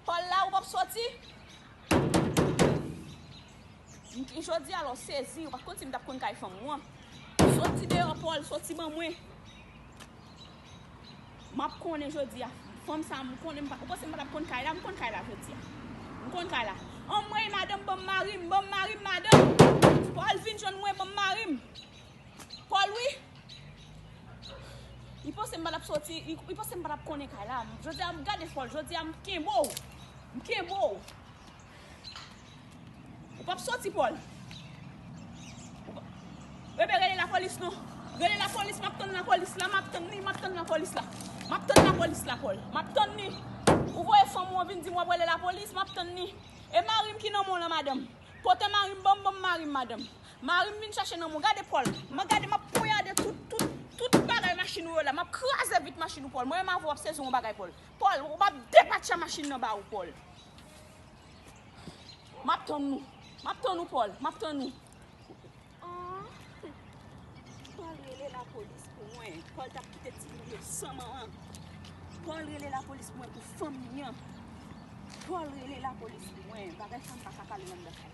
Paul la ou pap soti. Jodi a la w sezi, ou pa t konn si m t ap konn kay fanm ou an. Soti deyò Paul, soti ban mwen. M ap konnen jodi a. Fanm sa m konnen m pa, ou panse m pa t ap konn kay la, m konn kay la jodi a. M konn kay la. Anmwey madanm ban m mari m, ban m mari m madanm. Paul vin jwenn mwen ban m mari m. Paul wi. Li panse m pa tap soti, li panse m pa tap konnen kay la. Jodi a m gade fò l, jodi a m kenbe w. M kenbe w. Ou pap soti Paul. Bebe rele lapolis non. Rele lapolis, m ap tann lapolis la, m ap tann li, m ap tann lapolis la. M ap tann lapolis la Paul. M ap tann li. Ou voye fanm ou an vin di m w ap rele lapolis, m ap tann li. E mari m ki nan men w lan madanm? Kote mari m? Ban m mari m madanm. Marim vin chache nan mwen gade Paul mwen gade map poyade tout tout tout bagay machin ou yo la map kraze vit machin ou Paul mwen menm avèw ap sezi yon bagay Paul Paul ou pap depatcha machin nan ba ou Paul map tann nou map tann ou Paul map tann nou Aah Paul rele la polis pou mwen Paul tap kite ti moun yo san manman Paul rele la polis pou mwen pou fanmi an Paul rele la polis pou mwen bagay sa m paka pale nan m da fè.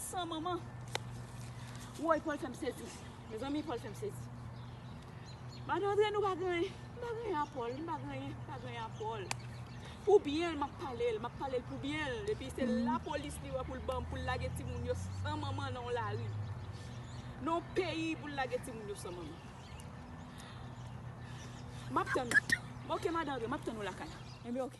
San manman. Woy Paul fèm sezi. Mezanmi Paul fèm sezi. Madan Andre nou pa gen anyen. M pa gen anyen a Paul. M pa gen anyen. M pa gen anyen a Paul. Pou byen l map pale l. Map pale l pou byen l. Epi se lapolis li wè pou l banm pou l lage timoun yo san manman nan yon lari. Nan yon peyi pou l lage timoun yo san manman. Map tann ou. Ok madan Andre map tann ou lakay la. Enben ok.